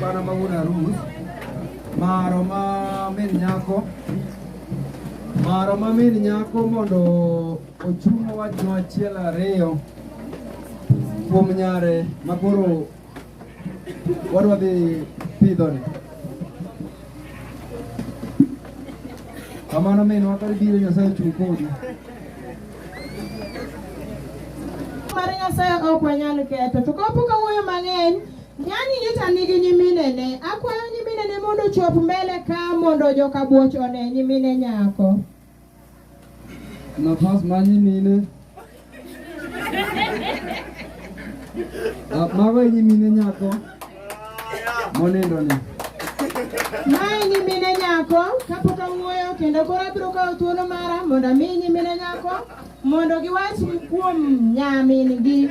Bana mawuon arus maro ma min nyako maro ma min nyako mondo ochung' wachno achiel ariyo kuom nyare ma koro wadwa dhi pidhoni. Kamano minwa kar biro Nyasaye ochung' kodi. Mar Nyasaye ok wanyal ketho, to kapo ka wuoyo mang'eny Nyani nyocha nigi nyiminene. Akwayo nyiminene mondo chop mbele ka mondo joka buoch one nyimine nyako. Nafas ma nyimine. Ah, mago nyimine nyako. Monindo ni. Mae nyimine nyako kapok awuoyo kendo koro abiro kawo thuolo mara mondo ami nyimine nyako mondo giwach kuom nyamin gi.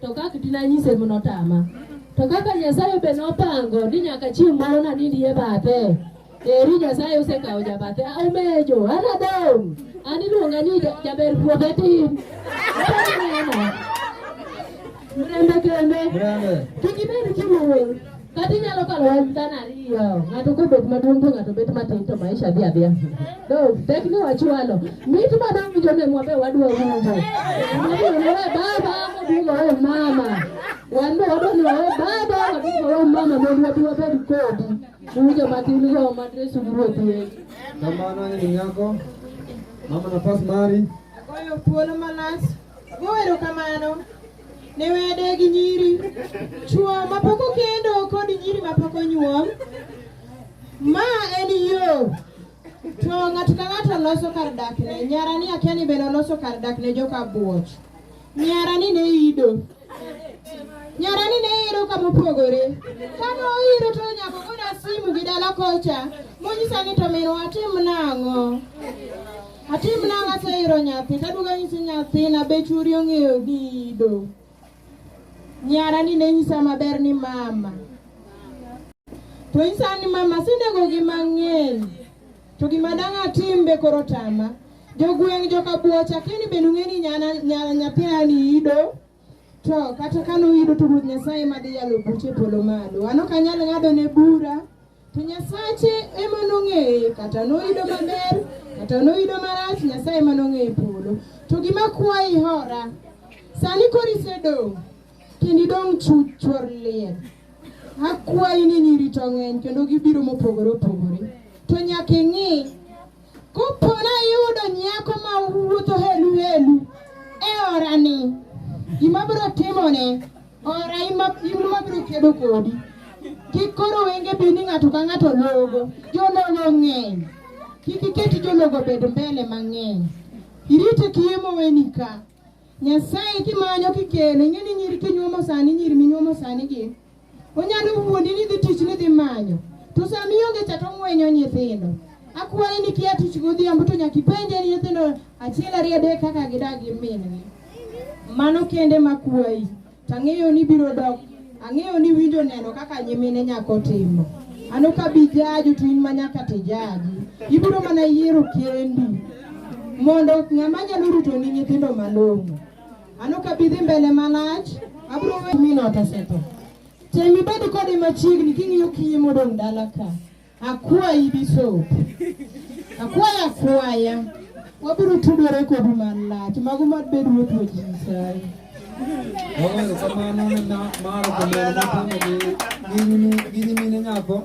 To kaka tinanyise mno tama. To kaka Nyasaye be nopango ni nyaka chieng' moro nanindie bathe. Eri Nyasaye osekawo jabathe. Ah, Omejo, anadong'. An iluonga ni ja- jaber puodho tin. Mrembe kende. Brother. Kik ibed kimuol. Kata inyalo kalo wach dhano ariyo, ng'ato kobet maduong' to ng'ato bet matin to maisha dhi adhiya. Do, tek ni wachwalo. Mit madong' winjo ne mwabe wadwa winjo. Mwabe wawe baba, wadugo wawe mama. Wan be wadwa ni wawe baba, wadugo wawe mama mondo wabi wabed kodi. Uwinjo matin go madresu gi ruoth yesu. Kamano ni nyako. Mama nafas mari. Agoyo thuolo malach. Go erokamano. ne wede gi nyiri chwo mapok okendo kod nyiri mapok onyuom ma en yo to ng'ato ka ng'ato loso kar dakne nyara ni akia ni bende oloso kar dakne joka buoch nyara ni ne ido nyara ni ne iro kama opogore kama oiro to nyako goda simu gi dala kocha monyisa ni to minwa tim nang'o Atim nang'o aseiro nyathi kaduogo anyisi nyathina be churi ong'eyo dido. Nyara ni ne nyisa maber ni mama. To nyisa ni mama sinego gi mang'eny. To gima dang' atim be koro tama. Jogweng' joka buocha kini be nung'e ni nyana nyana nyathina ni ido. To kata kano ido to Ruoth Nyasaye madhi yalo buche polo malo. Ano kanyal ng'ado ne bura. To Nyasache ema nong'eye, kata noyudo maber, kata noyudo marach, Nyasaye ema nong'eye polo. To gima kwayi hora, sani koro isedong' kendo idong' chuchwor liel. Akwayi ni nyiri to ng'eny kendo gibiro mopogore opogore. To nyaka ing'i Kopo nayudo nyako ma wuotho helu helu e orani, gima biro timone ora ima biro kedo kodi. Kik koro wenge bi ni ng'ato ka ng'ato logo, jologo ng'eny. Kik iket jologo bed mbele mang'eny. Irite kiye moweni ka. Nyasaye kimanyo kikele, ing'e ni nyiri kinyuomo sani, nyiri minyuomo sani gi. Onyalo wuondi ni dhi tich ni dhi manyo. To sama ionge cha to ng'wenyo nyithindo. Akwaye ni kia tich godhiambo to nyaka ipenje ni nyithindo achiel ariyo adek kaka gidak gi min-gi. Mano kende makwayi. To ang'eyo ni biro dok. Ang'eyo ni winjo neno kaka nyimine nyako timo. Ano ka bi jaju to in ma nyaka to ijaji. Ibiro mana yiero kendi mondo ng'ama nyalo rito ni nyithindo malong'o. Mano ka bidhi mbele malach, abiro we mino otasetho. Tem ibed kode machiegni king'iyo kiye modong' dala ka. Akwayi bisop. Akwaya akwaya. Wabiro tudore kodu malach. Mago mad bed ruoth wa Nyasaye. Oweyo kamano ne maro kamano matimo gi nyimine nyako